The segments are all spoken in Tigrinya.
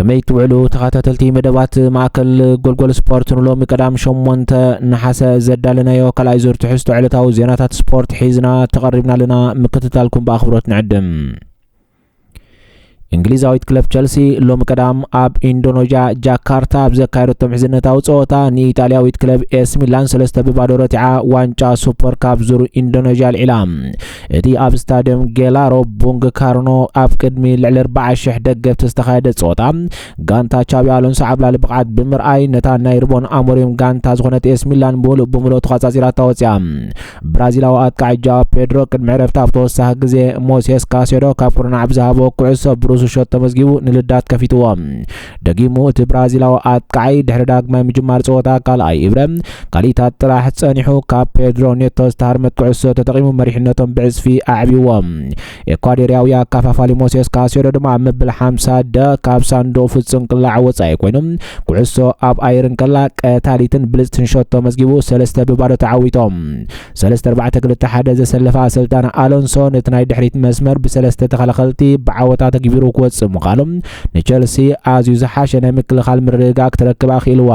ከመይ ትውዕሉ ተኸታተልቲ መደባት ማእከል ጎልጎል ስፖርት ንሎሚ ቀዳም ሸሞንተ ነሓሰ ዘዳለናዮ ካልኣይ ዙር ትሕዝቶ ዕለታዊ ዜናታት ስፖርት ሒዝና ተቐሪብና ኣለና ምክትታልኩም ብኣኽብሮት ንዕድም እንግሊዛዊት ክለብ ቸልሲ ሎሚ ቀዳም ኣብ ኢንዶኖዥያ ጃካርታ ኣብ ዘካየደቶ ምሕዝነታዊ ፀወታ ንኢጣልያዊት ክለብ ኤስ ሚላን ሰለስተ ብባዶ ረቲዓ ዋንጫ ሱፐር ካብ ዙር ኢንዶኖዥያ ኣልዒላ እቲ ኣብ ስታድየም ጌላሮ ቡንግ ካርኖ ኣብ ቅድሚ ልዕሊ 40 ሽሕ ደገፍቲ ዝተኻየደ ጸወታ ጋንታ ቻቢ ኣሎንሶ ዓብላሊ ብቕዓት ብምርኣይ ነታ ናይ ርቦን ኣሞሪም ጋንታ ዝኾነት ኤስ ሚላን ብምሉእ ብምሉእ ተቋጻጺራታ ወጽያ። ብራዚላዊ ኣጥቃዒ ጃዋ ፔድሮ ቅድሚ ዕረፍቲ ኣብ ተወሳኺ ግዜ ሞሴስ ካሴዶ ካብ ኩርናዕ ብዝሃቦ ኩዕሶ ብሩሱ ሸቶ መዝጊቡ ንልዳት ከፊትዎ። ደጊሙ እቲ ብራዚላዊ ኣጥቃዓይ ድሕሪ ዳግማይ ምጅማር ጸወታ ካልኣይ እብረ ካሊታት ጥራሕ ጸኒሑ ካብ ፔድሮ ኔቶ ዝተሃርመት ኩዕሶ ተጠቒሙ መሪሕነቶም ብዕጽፊ ኣዕብዎም። ኤኳዴርያዊ ኣካፋፋሊ ሞሴስ ካሴዶ ድማ ኣብ መበል 50 ደ ካብ ሳንዱቕ ፍጹም ቅላዕ ወጻኢ ኮይኑ ኩዕሶ ኣብ ኣየር እንከላ ቀታሊትን ብልጽትን ሸቶ መዝጊቡ ሰለስተ ብባዶ ተዓዊቶም። ሰለስተ ኣርባዕተ ክልተ ሓደ ዘሰለፈ ኣሰልጣኒ ኣሎንሶ ነቲ ናይ ድሕሪት መስመር ብሰለስተ ተኸላኸልቲ ብዓወታ ተግቢሩ ክወጽእ ምዃኑ ንቸልሲ ኣዝዩ ዝሓሸ ናይ ምክልኻል ምርግጋእ ክትረክብ ኣኽኢልዋ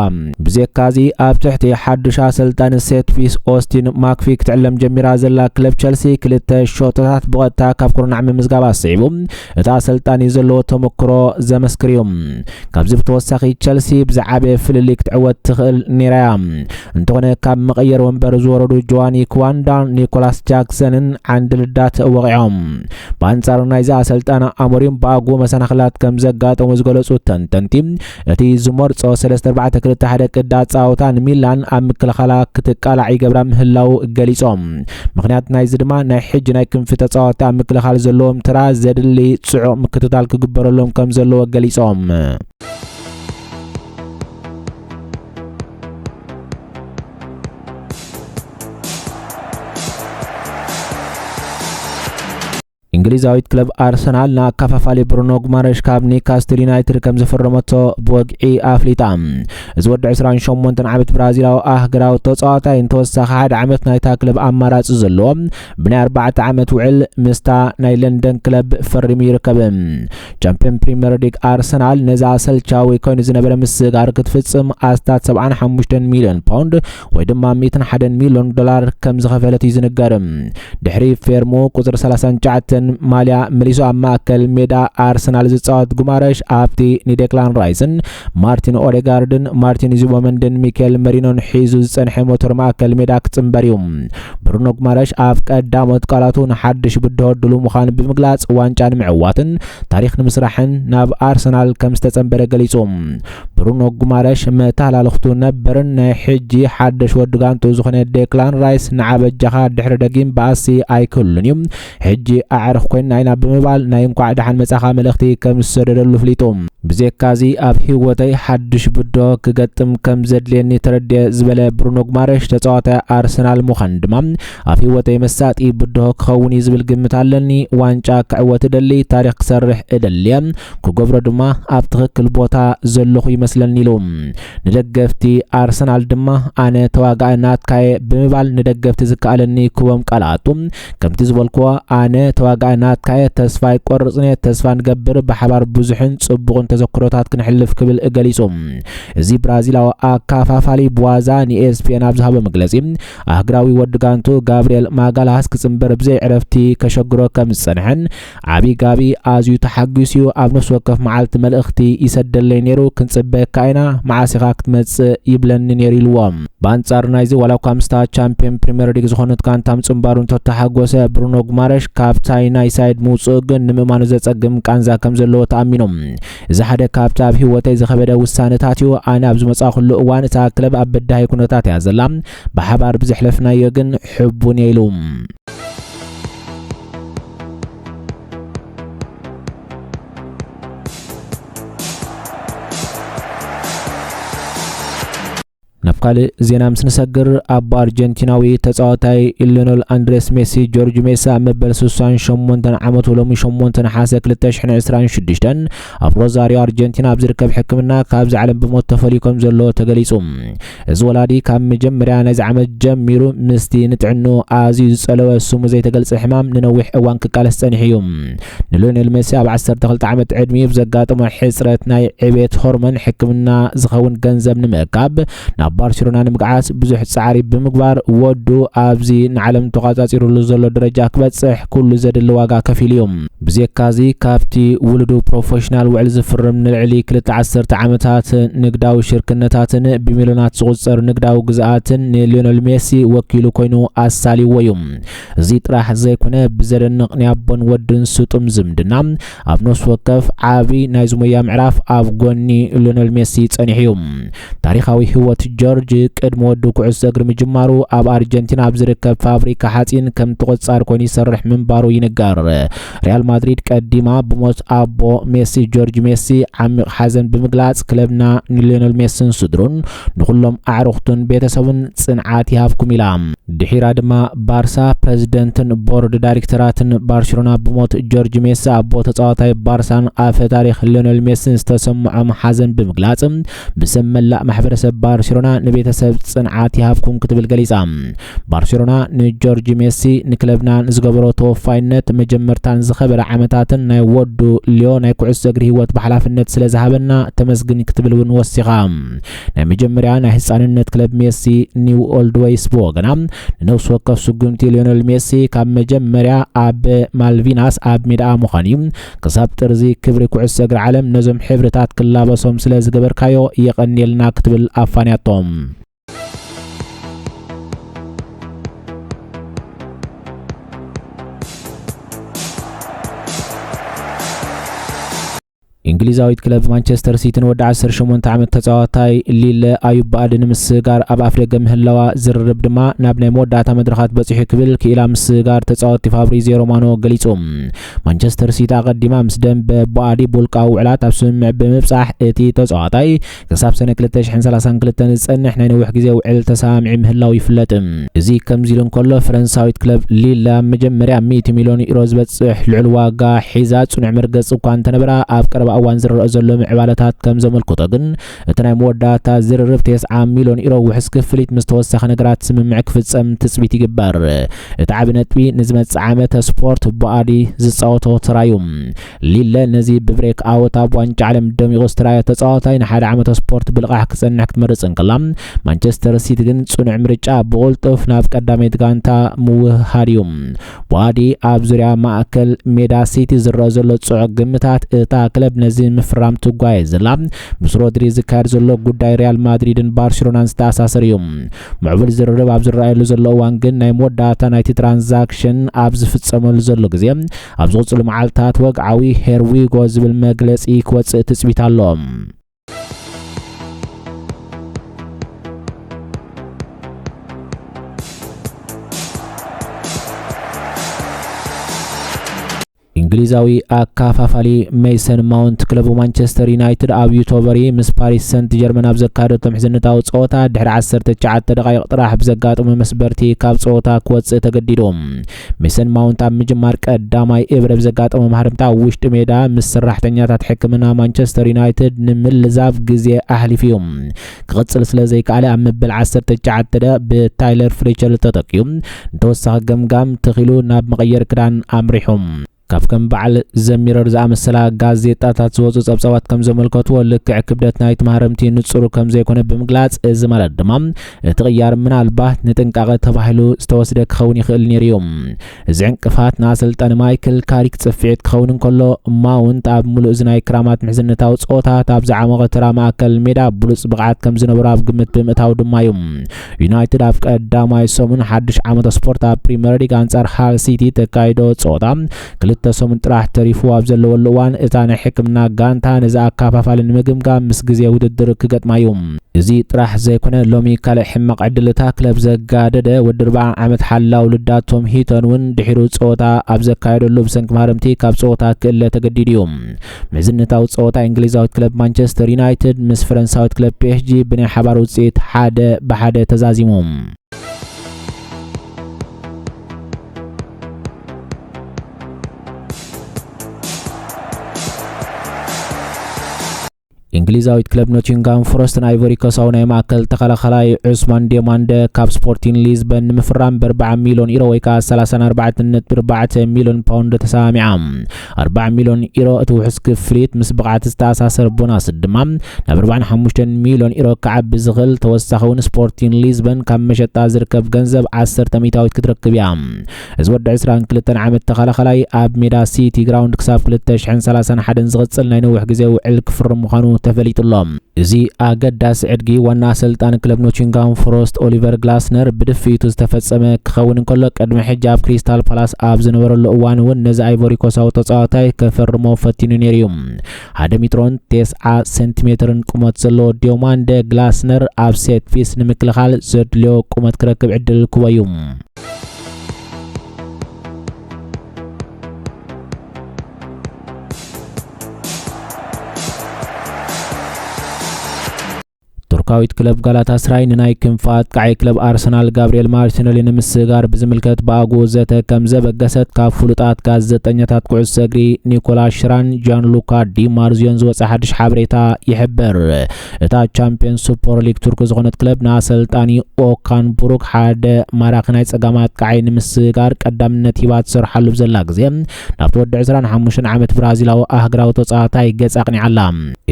ብዘካዚ ኣብ ትሕቲ ሓድሽ ኣሰልጣኒ ሴትፊስ ኦስቲን ማክፊ ክትዕለም ጀሚራ ዘላ ክለብ ቸልሲ ክልተ ሸቶታት ብቐጥታ ካብ ኩርናዕ ምምዝጋብ ኣስዒቡ እቲ ኣሰልጣኒ ዘለዎ ተመክሮ ዘመስክር እዩ። ካብዚ ብተወሳኺ ቸልሲ ብዝዓበየ ፍልልይ ክትዕወት ትኽእል ነይራ እያ። እንተኾነ ካብ መቐየሪ ወንበር ዝወረዱ ጆዋኒ ክዋንዳን ኒኮላስ ጃክሰንን ዓንዲ ልዳት ወቒዖም። ብኣንጻሩ ናይዚ ኣሰልጣኒ ኣሞሪም ብኣግኡ መሰናኽላት ከም ዘጋጠሙ ዝገለጹ ተንተንቲ እቲ ዝመርጾ ሰለስተ ኣርባዕተ ክልተ ሓደ ቅዲ ኣጻውታ ንሚላን ኣብ ምክልኻላ ክትቃላዕ ይገብራ ምህላው ገሊጾም። ምክንያት ናይዚ ድማ ናይ ሕጂ ናይ ክንፊ ተጻወቲ ኣብ ምክልኻል ዘለዎም ትራ ዘድሊ ጽዑቕ ምክትታል ክግበረሎም ከም ዘለዎ ገሊጾም። እንግሊዛዊት ክለብ ኣርሰናል ንኣካፋፋሊ ብሩኖ ጉማረሽ ካብ ኒካስትል ዩናይትድ ከም ዝፈረመቶ ብወግዒ ኣፍሊጣ እዚ ወዲ 28 ዓመት ብራዚላዊ ኣህግራዊ ተፃዋታይ እንተወሳኺ ሓደ ዓመት ናይታ ክለብ ኣማራፂ ዘለዎ ብናይ 4 ዓመት ውዕል ምስታ ናይ ለንደን ክለብ ፈሪሙ ይርከብ ቻምፒዮን ፕሪምየር ሊግ ኣርሰናል ነዚ ኣሰልቻዊ ኮይኑ ዝነበረ ምስግጋር ክትፍፅም ኣስታት 75 ሚሊዮን ፓውንድ ወይ ድማ ሚትን ሓደን ሚሊዮን ዶላር ከም ዝኸፈለት እዩ ዝንገር ድሕሪ ፌርሙ ቁፅሪ 39 ማልያ መሊሱ ኣብ ማእከል ሜዳ ኣርሰናል ዝፃወት ጉማረሽ ኣብቲ ንዴክላን ራይስን ማርቲን ኦዴጋርድን ማርቲን ዙቦመንድን ሚካኤል መሪኖን ሒዙ ዝፀንሐ ሞተር ማእከል ሜዳ ክፅምበር እዩ ብሩኖ ጉማረሽ ኣብ ቀዳሞት ቃላቱ ንሓድሽ ብድሆ ድሉ ምዃኑ ብምግላፅ ዋንጫ ንምዕዋትን ታሪክ ንምስራሕን ናብ ኣርሰናል ከም ዝተፀምበረ ገሊፁ ብሩኖ ጉማረሽ መተሃላልኽቱ ነበርን ናይ ሕጂ ሓደሽ ወዲ ጋንትኡ ዝኾነ ዴክላን ራይስ ንዓ በጃኻ ድሕሪ ደጊም ባእሲ ኣይክሉን እዩ ሕጂ ኣዕርኽ ኮይና ኢና ብምባል ናይ እንኳዕ ደሓን መጻኻ መልእኽቲ ከም ዝሰደደሉ ፍሊጡ ብዜካዚ ኣብ ህይወተይ ሓድሽ ብዶ ክገጥም ከም ዘድልየኒ ተረድየ ዝበለ ብሩኖ ጉማረሽ ተጻዋታይ ኣርሰናል ምዃን ድማ ኣብ ህይወተይ መሳጢ ብድሆ ክኸውን እዩ ዝብል ግምት ኣለኒ። ዋንጫ ክዕወት እደሊ፣ ታሪኽ ክሰርሕ እደሊ'የ፣ ክገብሮ ድማ ኣብ ትኽክል ቦታ ዘለኹ ይመስለኒ ኢሉ። ንደገፍቲ ኣርሰናል ድማ ኣነ ተዋጋኢ ናትካ'የ ብምባል ንደገፍቲ ዝከኣለኒ ክቦም ቃላቱ ከምቲ ዝበልክዎ ኣነ ተዋጋኢ ናትካ'የ፣ ተስፋ ኣይቆርጽን'የ፣ ተስፋ ንገብር ብሓባር ብዙሕን ጽቡቕን ተዘክሮታት ክነሕልፍ ክብል ገሊጹ። እዚ ብራዚላዊ ኣካፋፋሊ ብዋዛ ንኤስፒኤን ኣብ ዝሃቦ መግለጺ ኣህግራዊ ወዲ ጋንቱ ጋብርኤል ማጋላሃስ ክጽንበር ብዘይ ዕረፍቲ ከሸግሮ ከም ዝጸንሐን ዓቢ ጋቢ ኣዝዩ ተሓጊሱ'ዩ ኣብ ነፍሲ ወከፍ መዓልቲ መልእኽቲ ይሰደለይ ነይሩ ክንጽበየካ ኢና መዓስ ኢኻ ክትመጽእ ይብለኒ ነይሩ ኢልዎ። ብኣንጻር ናይዚ ዋላኳ ምስታ ቻምፕዮን ፕሪመር ሊግ ዝኾነት ጋንታ ምጽንባሩ እንተተሓጎሰ ብሩኖ ጉማረሽ ካብታይ ናይ ሳይድ ምውጽኡ ግን ንምእማኑ ዘጸግም ቃንዛ ከም ዘለዎ ተኣሚኑ እዚ ሓደ ካብቲ ኣብ ህይወተይ ዝኸበደ ውሳነታት እዩ። ኣነ ኣብ ዝመጻኹሉ እዋን እታ ክለብ ኣብ በዳሂ ኩነታት እያ ዘላ። ብሓባር ብዘሕለፍናዮ ግን ሕቡን እየ ኢሉ። ናብ ካልእ ዜና ምስ ንሰግር ኣቦ ኣርጀንቲናዊ ተጻዋታይ ኢሎኖል ኣንድሬስ ሜሲ ጆርጅ ሜሲ ኣብ መበል 68 ዓመቱ ሎሚ 8 ነሓሰ 2026 ኣብ ሮዛሪዮ ኣርጀንቲና ኣብ ዝርከብ ሕክምና ካብዚ ዓለም ብሞት ተፈልዩ ከም ዘሎ ተገሊጹ እዚ ወላዲ ካብ መጀመርያ ነዚ ዓመት ጀሚሩ ምስቲ ንጥዕንኡ ኣዝዩ ዝጸለወ ስሙ ዘይተገልጸ ሕማም ንነዊሕ እዋን ክቃለስ ጸኒሑ እዩ ንልዮኔል ሜሲ ኣብ ዓሰርተ ክልተ ዓመት ዕድሚኡ ብዘጋጠሞ ሕጽረት ናይ ዕቤት ሆርሞን ሕክምና ዝኸውን ገንዘብ ንምእካብ ናብ ባርሴሎና ንምግዓስ ብዙሕ ጻዕሪ ብምግባር ወዱ ኣብዚ ንዓለም ተቋጻጺሩሉ ዘሎ ደረጃ ክበጽሕ ኩሉ ዘድሊ ዋጋ ከፊሉ እዩ። ብዜካዚ ካብቲ ውሉዱ ፕሮፌሽናል ውዕል ዝፍርም ንልዕሊ ክልተ ዓሰርተ ዓመታት ንግዳዊ ሽርክነታትን ብሚልዮናት ዝቑጸር ንግዳዊ ግዝኣትን ንልዮኔል ሜሲ ወኪሉ ኮይኑ ኣሳልይዎ እዩ። እዚ ጥራሕ ዘይኮነ ብዘደንቕ ናይ ኣቦን ወድን ስጡም ዝምድና ኣብ ነፍሲ ወከፍ ዓቢ ናይ ዝሞያ ምዕራፍ ኣብ ጎኒ ሊዮነል ሜሲ ጸኒሑ እዩ። ታሪኻዊ ህይወት ጆርጅ ቅድሚ ወዱ ኩዕሶ እግሪ ምጅማሩ ኣብ ኣርጀንቲና ኣብ ዝርከብ ፋብሪካ ሓጺን ከም ተቖጻሪ ኮይኑ ይሰርሕ ምንባሩ ይንገር። ሪያል ማድሪድ ቀዲማ ብሞት ኣቦ ሜሲ ጆርጅ ሜሲ ዓሚቕ ሓዘን ብምግላጽ ክለብና ንሊዮነል ሜስን ስድሩን ንኹሎም ኣዕሩኽቱን ቤተሰቡን ጽንዓት ይሃብኩም ኢላ። ድሒራ ድማ ባርሳ ፕረዚደንትን ቦርድ ዳይሬክተራትን ባርሴሎና ብሞት ጆርጅ ሜሲ ኣቦ ተጻዋታይ ባርሳን ኣፈ ታሪኽ ሊዮነል ሜሲን ዝተሰምዖም ሓዘን ብምግላጽ ብስም መላእ ማሕበረሰብ ባርሴሎና ንቤተሰብ ጽንዓት ይሃብኩም ክትብል ገሊጻ። ባርሴሎና ንጆርጅ ሜሲ ንክለብና ንዝገበሮ ተወፋይነት መጀመርታን ዝኸበረ ዓመታትን ናይ ወዱ ሊዮ ናይ ኩዕሶ እግሪ ህይወት ብሓላፍነት ስለ ዝሃበና ተመስግን ክትብል እውን ወሲኻ። ናይ መጀመርያ ናይ ህፃንነት ክለብ ሜሲ ኒው ኦልድ ወይስ ብወገና ንነብሲ ወከፍ ስጉምቲ ሊዮነል ሜሲ ካብ መጀመርያ ኣብ ማልቪናስ ኣብ ሜዳኣ ምዃን እዩ ክሳብ ጥርዚ ክብሪ ኩዕሶ እግሪ ዓለም ነዞም ሕብርታት ክላበሶም ስለ ዝገበርካዮ የቐንየልና ክትብል ኣፋንያቶም። እንግሊዛዊት ክለብ ማንቸስተር ሲቲ ንወዲ 18 ዓመት ተጻዋታይ ሊለ ኣዩብ ብኣድ ንምስጋር ኣብ ኣፍደገ ምህላዋ ዝርርብ ድማ ናብ ናይ መወዳእታ መድረኻት በጺሑ ክብል ክኢላ ምስጋር ተጻወቲ ፋብሪዚዮ ሮማኖ ገሊጹ። ማንቸስተር ሲቲ ኣቐዲማ ምስ ደምበ ቦኣዲ ቦልቃዊ ውዕላት ኣብ ስምምዕ ብምብጻሕ እቲ ተጻዋታይ ክሳብ ሰነ 2032 ዝጸንሕ ናይ ነዊሕ ግዜ ውዕል ተሰማሚዑ ምህላው ይፍለጥ። እዚ ከምዚ ኢሉ እንከሎ ፈረንሳዊት ክለብ ሊል ኣብ መጀመርያ 100 ሚልዮን ዩሮ ዝበጽሕ ልዑል ዋጋ ሒዛ ጽኑዕ መርገጺ እኳ እንተነበራ ኣብ ቀረባ እዋን ዝረኣ ዘሎ ምዕባለታት ከም ዘመልክቶ ግን እቲ ናይ መወዳእታ ዝርርብ ቴስዓ ሚልዮን ኢሮ ውሕስ ክፍሊት ምስ ተወሳኺ ነገራት ስምምዕ ክፍጸም ትጽቢት ይግበር። እቲ ዓቢ ነጥቢ ንዝመጽእ ዓመት ስፖርት ቦኣዲ ዝጻወቶ ተራ'ዩ። ሊለ ነዚ ብብሬክ ኣውት ኣብ ዋንጫ ዓለም ደሚቑ ዝተራእየ ተጻዋታይ ንሓደ ዓመት ስፖርት ብልቓሕ ክጸንሕ ክትመርጽ እንከላ፣ ማንቸስተር ሲቲ ግን ጽኑዕ ምርጫ ብቕልጡፍ ናብ ቀዳመይቲ ጋንታ ምውህሃድ'ዩ። ቡኣዲ ኣብ ዙርያ ማእከል ሜዳ ሲቲ ዝረኣ ዘሎ ጽዑቕ ግምታት እታ ክለብ ነዚ ምፍራም ትጓየ ዘላ ምስ ሮድሪ ዝካየድ ዘሎ ጉዳይ ሪያል ማድሪድን ባርሴሎናን ዝተኣሳሰር እዩ። ምዕቡል ዝርርብ ኣብ ዝረኣየሉ ዘሎ እዋን ግን ናይ መወዳእታ ናይቲ ትራንዛክሽን ኣብ ዝፍጸመሉ ዘሎ ግዜ ኣብ ዝቕጽሉ መዓልታት ወግዓዊ ሄርዊጎ ዝብል መግለጺ ክወጽእ ትጽቢት ኣሎ። እንግሊዛዊ ኣካፋፋሊ ሜሰን ማውንት ክለቡ ማንቸስተር ዩናይትድ ኣብ ዩቶበሪ ምስ ፓሪስ ሰንት ጀርመን ኣብ ዘካየደቶም ሕዝነታዊ ፀወታ ድሕሪ 19 ደቓይቕ ጥራሕ ብዘጋጠሙ መስበርቲ ካብ ፀወታ ክወፅእ ተገዲዱ ሚሰን ማውንት ኣብ ምጅማር ቀዳማይ እብረ ብዘጋጠሞ ማህርምታ ኣብ ውሽጢ ሜዳ ምስ ሰራሕተኛታት ሕክምና ማንቸስተር ዩናይትድ ንምልዛብ ግዜ ኣሕሊፉ እዩ ክቕጽል ስለ ዘይከኣለ ኣብ መበል 19 ደቂቕ ብታይለር ፍሌቸር ተተኪኡ ንተወሳኺ ገምጋም ተኺሉ ናብ መቐየሪ ክዳን ኣምሪሑ ካብ ከም በዓል ዘሚረር ዝኣመሰላ ጋዜጣታት ዝወፁ ጸብጻባት ከም ዘመልከትዎ ልክዕ ክብደት ናይቲ ማህረምቲ ንጹሩ ከም ዘይኮነ ብምግላጽ እዚ ማለት ድማ እቲ ቅያር ምናልባት ንጥንቃቐ ተባሂሉ ዝተወስደ ክኸውን ይኽእል ነይሩ እዩ። እዚ ዕንቅፋት ንኣሰልጣኒ ማይክል ካሪክ ጽፍዒት ክኸውን እንከሎ ማውንት ኣብ ምሉእ እዚ ናይ ክራማት ምሕዝነታዊ ጸወታት ኣብ ዝዓሞቐ ተራ ማእከል ሜዳ ብሉጽ ብቕዓት ከም ዝነበሮ ኣብ ግምት ብምእታው ድማ እዩ ዩናይትድ ኣብ ቀዳማይ ሰሙን ሓድሽ ዓመት ስፖርት ኣብ ፕሪምየር ሊግ ኣንጻር ሃል ሲቲ ተካይዶ ጸወታ ክልተ ሰሙን ጥራሕ ተሪፉ ኣብ ዘለወሉ እዋን እታ ናይ ሕክምና ጋንታ ነዚ ኣካፋፋሊ ንምግምጋም ምስ ግዜ ውድድር ክገጥማ እዩ እዚ ጥራሕ ዘይኮነ ሎሚ ካልእ ሕማቕ ዕድል እታ ክለብ ዘጋደደ ወዲ ርብዓ ዓመት ሓላው ልዳት ቶም ሂተን እውን ድሒሩ ጸወታ ኣብ ዘካየደሉ ብሰንኪ ማህረምቲ ካብ ጸወታ ክእለ ተገዲዱ እዩ መዝነታዊ ጸወታ እንግሊዛዊት ክለብ ማንቸስተር ዩናይትድ ምስ ፈረንሳዊት ክለብ ፒኤስጂ ብናይ ሓባር ውጽኢት ሓደ ብሓደ ተዛዚሞም። እንግሊዛዊት ክለብ ኖቲንግሃም ፎረስትን ኣይቮሪኮሳዊ ናይ ማእከል ተኸላኸላይ ዑስማን ዴማንደ ካብ ስፖርቲን ሊዝበን ንምፍራም ብርብዓ ሚሊዮን ኢሮ ወይ ከዓ 34.4 ሚሊዮን ፓውንድ ተሰማሚዓ 4 ሚሊዮን ኢሮ እቲ ውሑስ ክፍሊት ምስ ብቕዓት ዝተኣሳሰር ቦናስ ድማ ናብ 45 ሚሊዮን ኢሮ ክዓቢ ዝኽእል ተወሳኺ እውን ስፖርቲን ሊዝበን ካብ መሸጣ ዝርከብ ገንዘብ 10 ሚታዊት ክትረክብ እያ እዚ ወዲ ዕስራን ክልተን ዓመት ተኸላኸላይ ኣብ ሜዳ ሲቲ ግራውንድ ክሳብ 2031 ዝቕጽል ናይ ነዊሕ ግዜ ውዕል ክፍርም ምዃኑ ተፈሊጡ ኣሎ። እዚ ኣገዳሲ ዕድጊ ዋና ኣሰልጣኒ ክለብ ኖቲንግሃም ፎረስት ኦሊቨር ግላስነር ብድፍኢቱ ዝተፈጸመ ክኸውን እንከሎ ቅድሚ ሕጂ ኣብ ክሪስታል ፓላስ ኣብ ዝነበረሉ እዋን እውን ነዚ ኣይቮሪኮሳዊ ተጻዋታይ ከፈርሞ ፈቲኑ ነይሩ እዩ። ሓደ ሜትሮን ቴስዓ ሴንቲሜትርን ቁመት ዘለዎ ዲዮማንደ ግላስነር ኣብ ሴት ፒስ ንምክልኻል ዘድልዮ ቁመት ክረክብ ዕድል ክቦ እዩ። ቱርካዊት ክለብ ጋላታ ስራይ ንናይ ክንፊ ኣጥቃዒ ክለብ ኣርሰናል ጋብርኤል ማርቲነሊ ንምስጋር ብዝምልከት ብኣጉ ዘተ ከም ዘበገሰት ካብ ፍሉጣት ጋዜጠኛታት ኩዕሶ እግሪ ኒኮላስ ሽራን ጃን ሉካ ዲማርዝዮን ዝወፀ ሓድሽ ሓበሬታ ይሕብር። እታ ቻምፕዮን ሱፐር ሊግ ቱርኪ ዝኾነት ክለብ ንኣሰልጣኒ ኦካን ቡሩክ ሓደ ማራኺ ናይ ጸጋም ኣጥቃዓይ ንምስግጋር ቀዳምነት ሂባ ትሰርሓሉ ብዘላ ግዜ ናብቲ ወዲ 25 ዓመት ብራዚላዊ ኣህግራዊ ተጻዋታይ ገጽ ኣቕኒዓ ኣላ።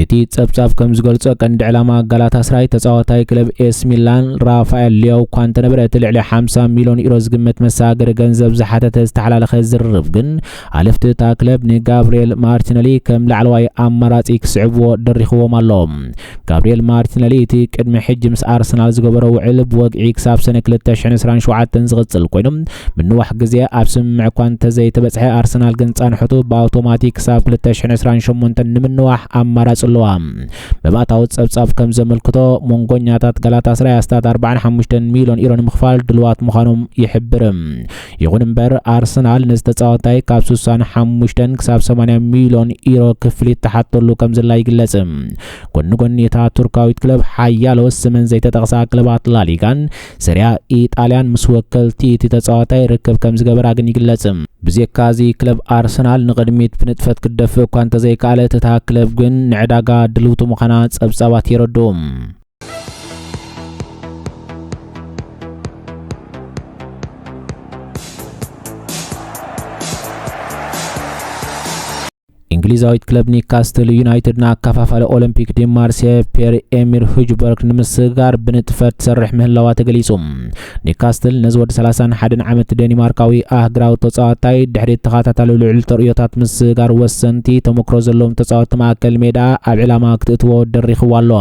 እቲ ጸብጻብ ከም ዝገልጾ ቀንዲ ዕላማ ጋላታስራይ ተጻዋታይ ክለብ ኤስ ሚላን ራፋኤል ሊያው እኳ እንተነበረ እቲ ልዕሊ 50 ሚልዮን ዩሮ ዝግመት መሰጋገሪ ገንዘብ ዝሓተተ ዝተሓላለኸ ዝርርብ ግን ሓለፍቲ እታ ክለብ ንጋብርኤል ማርቲነሊ ከም ላዕለዋይ ኣማራጺ ክስዕብዎ ደሪኽዎም ኣሎ። ጋብርኤል ማርቲነሊ እቲ ቅድሚ ሕጂ ምስ ኣርሰናል ዝገበሮ ውዕል ብወግዒ ክሳብ ሰነ 2027 ዝቕጽል ኮይኑ ምንዋሕ ግዜ ኣብ ስምምዕ እኳ እንተዘይተበጽሐ ኣርሰናል ግን ጻንሖቱ ብኣውቶማቲክ ክሳብ 2028 ንምንዋሕ ኣማራጺ ኣለዋ። መባእታዊ ጸብጻብ ከም ዘመልክቶ ሞንጎኛታት ጋላታስራይ ኣስታት 45 ሚልዮን ዩሮ ንምኽፋል ድልዋት ምዃኖም ይሕብር። ይኹን እምበር ኣርሰናል ነዚ ተጻዋታይ ካብ 65 ክሳብ 80 ሚልዮን ኢሮ ክፍሊት ተሓተሉ ከም ዘላ ይግለጽ። ጎኒ ጎኒ እታ ቱርካዊት ክለብ ሓያሎ ስመን ዘይተጠቕሳ ክለባት ላሊጋን ሰሪያ ኢጣልያን ምስ ወከልቲ እቲ ተጻዋታይ ርክብ ከም ዝገበራ ግን ይግለጽ። ብዘካ እዚ ክለብ ኣርሰናል ንቕድሚት ብንጥፈት ክትደፍእ እኳ እንተዘይከኣለት እታ ክለብ ግን ንዕዳጋ ድልውቲ ምዃና ጸብጻባት የረድኡ። እንግሊዛዊት ክለብ ኒካስትል ዩናይትድን ኣከፋፋሊ ኦሎምፒክ ዲማርሴ ፔር ኤሚር ሁጅበርግ ንምስግጋር ብንጥፈት ትሰርሕ ምህላዋ ተገሊጹ ኒውካስትል ነዚ ወዲ ሰላሳን ሓደን ዓመት ደኒማርካዊ ኣህግራዊ ተጻዋታይ ድሕሪ ተኸታታሊ ልዑል ተርእዮታት ምስጋር ወሰንቲ ተሞክሮ ዘለዎም ተጻወቲ ማእከል ሜዳ ኣብ ዕላማ ክትእትዎ ደሪኽዎ ኣሎ።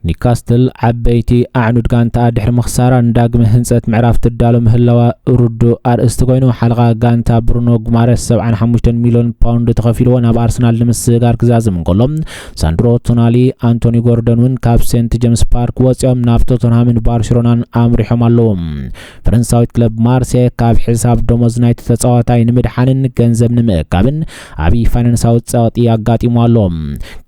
ኒውካስትል ዓበይቲ ኣዕኑድ ጋንታኣ ድሕሪ ምኽሳራ ንዳግመ ህንጸት ምዕራፍ ትዳሎ ምህላዋ ርዱእ ኣርእስቲ ኮይኑ፣ ሓለቓ ጋንታ ብሩኖ ጉማረስ ሰብዓን ሓሙሽተን ሚልዮን ፓውንድ ተኸፊልዎ ናብ ኣርሰናል ንምስግጋር ክዛዝም እንከሎ፣ ሳንድሮ ቶናሊ፣ ኣንቶኒ ጎርደን እውን ካብ ሴንት ጀምስ ፓርክ ወፂኦም ናብ ቶተንሃምን ባርሴሎናን ኣምሪሖም ኣለዉ። ፈረንሳዊት ክለብ ማርሴ ካብ ሕሳብ ደሞዝ ናይቲ ተፃዋታይ ንምድሓንን ገንዘብ ንምእካብን ዓብዪ ፋይናንሳዊ ፀቕጢ ኣጋጢሙ ኣሎ።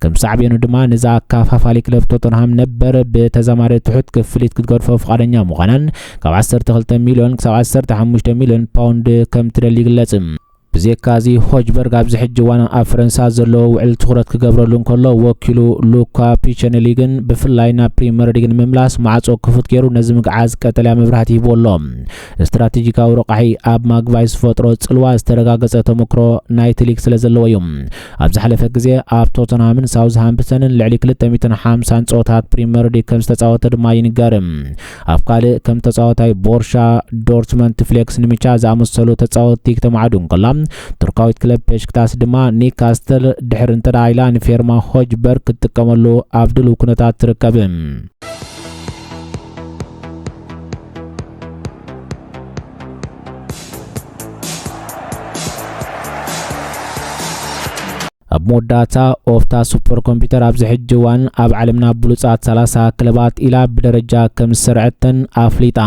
ከም ሳዕቤኑ ድማ ነዚ ኣካፋፋሊ ክለብ ቶተንሃም ነበር ብተዛማሪ ትሑት ክፍሊት ክትገድፎ ፍቓደኛ ምዃናን ካብ 12 ሚልዮን ክሳብ 15 ሚልዮን ፓውንድ ከም ትደሊ ይግለጽ። ብዜካ እዚ፣ ሆጅበርግ ኣብዚ ሕጂ እዋን ኣብ ፈረንሳ ኣብ ዘለዎ ውዕል ትኹረት ክገብረሉ እንከሎ፣ ወኪሉ ሉካ ፒቸንሊ ግን ብፍላይ ናብ ፕሪመርሊግ ንምምላስ ማዕጾ ክፉት ገይሩ ነዚ ምግዓዝ ቀጠልያ መብራህቲ ሂብዎ ኣሎ። ስትራቴጂካዊ ረቛሒ ኣብ ማግቫይ ዝፈጥሮ ጽልዋ ዝተረጋገጸ ተመክሮ ናይቲ ሊግ ስለዘለዎ እዩ። ኣብ ዝሓለፈ ግዜ ኣብ ቶተንሃምን ሳውዝሃምፕተንን ልዕሊ ክልተ ሚእትን ሓምሳን ጸወታታት ፕሪመርሊግ ከምዝተጻወተ ድማ ይንገር። ኣብ ካልእ ከም ተጻዋታይ ቦርሻ ዶርትመንት ፍሌክስ ንምቻ ዝኣመሰሉ ተጻወትቲ ክተማዕዱ እንከላ ቱርካዊት ክለብ ፔሽክታስ ድማ ኒካስተል ድሕሪ እንተደኣ ኢላ ንፌርማ ሆጅበርግ ክትጥቀመሉ ኣብ ድልው ኩነታት ትርከብ። ኣብ መወዳእታ ኦፕታ ሱፐር ኮምፒተር ኣብዚ ሕጂ እዋን ኣብ ዓለምና ብሉጻት 30 ክለባት ኢላ ብደረጃ ከም ዝሰርዐተን ኣፍሊጣ።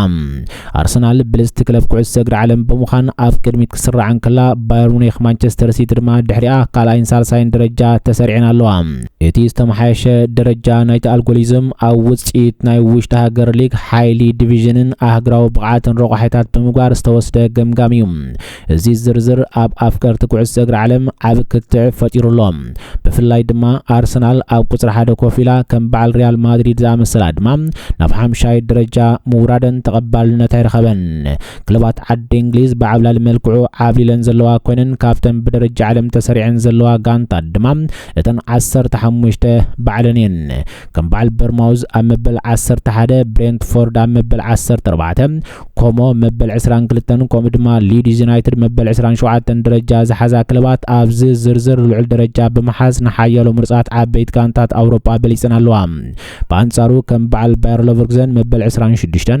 ኣርሰናል ብልጽቲ ክለብ ኩዕሶ እግሪ ዓለም ብምዃን ኣብ ቅድሚት ክትስራዕ እንከላ፣ ባየር ሙኒክ፣ ማንቸስተር ሲቲ ድማ ድሕሪኣ ካልኣይን ሳልሳይን ደረጃ ተሰሪዐን ኣለዋ። እቲ ዝተመሓየሸ ደረጃ ናይቲ ኣልጎሊዝም ኣብ ውጽኢት ናይ ውሽጢ ሃገር ሊግ፣ ሓይሊ፣ ዲቪዥንን ኣህግራዊ ብቕዓትን ረቋሒታት ብምግባር ዝተወስደ ገምጋም እዩ። እዚ ዝርዝር ኣብ ኣፍቀርቲ ኩዕሶ እግሪ ዓለም ዓቢ ክትዕ ፈጢሩ ኣሎ። ብፍላይ ድማ ኣርሰናል ኣብ ቁጽሪ ሓደ ኮፍ ኢላ ከም በዓል ሪያል ማድሪድ ዝኣመሰለ ኣድማ ናብ ሓምሻይ ደረጃ ምውራደን ተቐባልነት ኣይረኸበን። ክለባት ዓዲ እንግሊዝ ብዓብላሊ መልክዑ ዓብሊለን ዘለዋ ኮይነን ካብተን ብደረጃ ዓለም ተሰሪዐን ዘለዋ ጋንታት ድማ እተን ዓሰርተ ሓሙሽተ ባዕለን እየን። ከም በዓል በርማውዝ ኣብ መበል ዓሰርተ ሓደ፣ ብሬንትፎርድ ኣብ መበል ዓሰርተ ኣርባዕተ፣ ኮሞ መበል ዕስራን ክልተን ከምኡ ድማ ሊድስ ዩናይትድ መበል ዕስራን ሸውዓተን ደረጃ ዝሓዛ ክለባት ኣብዚ ዝርዝር ልዑል ደረጃ ብምሓዝ ንሓያሎ ምርፃት ዓበይት ጋንታት ኣውሮጳ በሊፀን ኣለዋ ብኣንጻሩ ከም በዓል ባየር ሎቨርግዘን መበል 26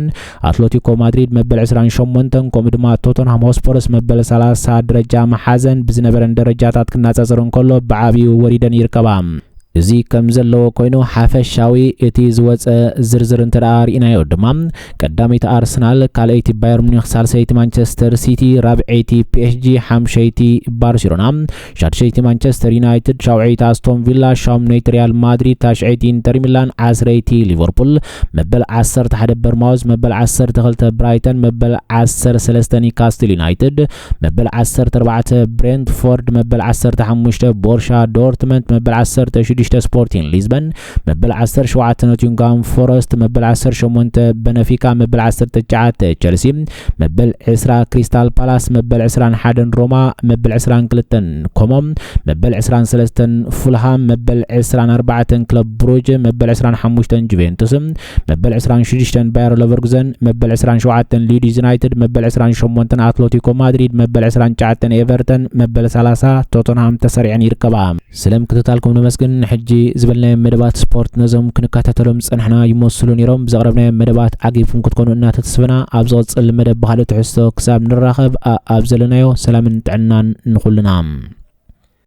ኣትለቲኮ ማድሪድ መበል 28 ከምኡ ድማ ቶተንሃም ሆስፖርስ መበል 30 ደረጃ መሓዘን ብዝነበረን ደረጃታት ክናጻጸር እንከሎ ብዓብዩ ወሪደን ይርከባ እዚ ከም ዘለዎ ኮይኑ ሓፈሻዊ እቲ ዝወጸ ዝርዝር እንተደኣ ርኢናዮ ድማ ቀዳመይቲ ኣርሰናል፣ ካልኣይቲ ባየር ሙኒክ፣ ሳልሰይቲ ማንቸስተር ሲቲ፣ ራብዐይቲ ፒኤስጂ፣ ሓምሸይቲ ባርሴሎና፣ ሻድሸይቲ ማንቸስተር ዩናይትድ፣ ሻውዐይቲ ኣስቶን ቪላ፣ ሻምነይቲ ሪያል ማድሪድ፣ ታሽዐይቲ ኢንተር ሚላን፣ ዓስረይቲ ሊቨርፑል፣ መበል ዓሰርተ ሓደ በርማውዝ፣ መበል ዓሰርተ ክልተ ብራይተን፣ መበል ዓሰርተ ሰለስተ ኒካስትል ዩናይትድ፣ መበል ዓሰርተ ኣርባዕተ ብሬንትፎርድ፣ መበል ዓሰርተ ሓሙሽተ ቦርሻ ዶርትመንት፣ መበል ዓሰርተ ሽዱሽተ ስፖርቲን ሊዝበን፣ መበል ዓሰርተ ሸውዓተ ኖቲንግሃም ፎረስት፣ መበል ዓሰርተ ሸሞንተ በነፊካ፣ መበል ዓሰርተ ትሽዓተ ቸልሲ፣ መበል ዕስራ ክሪስታል ፓላስ፣ መበል ዕስራን ሓደን ሮማ፣ መበል ዕስራን ክልተን ኮሞ፣ መበል ዕስራን ሰለስተን ፉልሃም፣ መበል ዕስራን ኣርባዕተን ክለብ ብሩጅ፣ መበል ዕስራን ሓሙሽተን ጁቬንቱስ፣ መበል 26 ባየር ለቨርጉዘን መበል 27 ሊድስ ዩናይትድ መበል 28 ኣትለቲኮ ማድሪድ መበል 29 ኤቨርተን መበል 30 ቶተንሃም ተሰሪዐን ይርከባ ስለ ምክትታልኩም ነመስግን ሕጂ ዝበልናዮም መደባት ስፖርት ነዞም ክንከታተሎም ዝፀናሕና ይመስሉ ነይሮም ብዘቕረብናዮም መደባት ዓጊብኩም ክትኮኑ እናተተስፈና ኣብ ዝቕፅል መደብ ባህሊ ትሕዝቶ ክሳብ ንራኸብ ኣብ ዘለናዮ ሰላምን ጥዕናን ንኹልና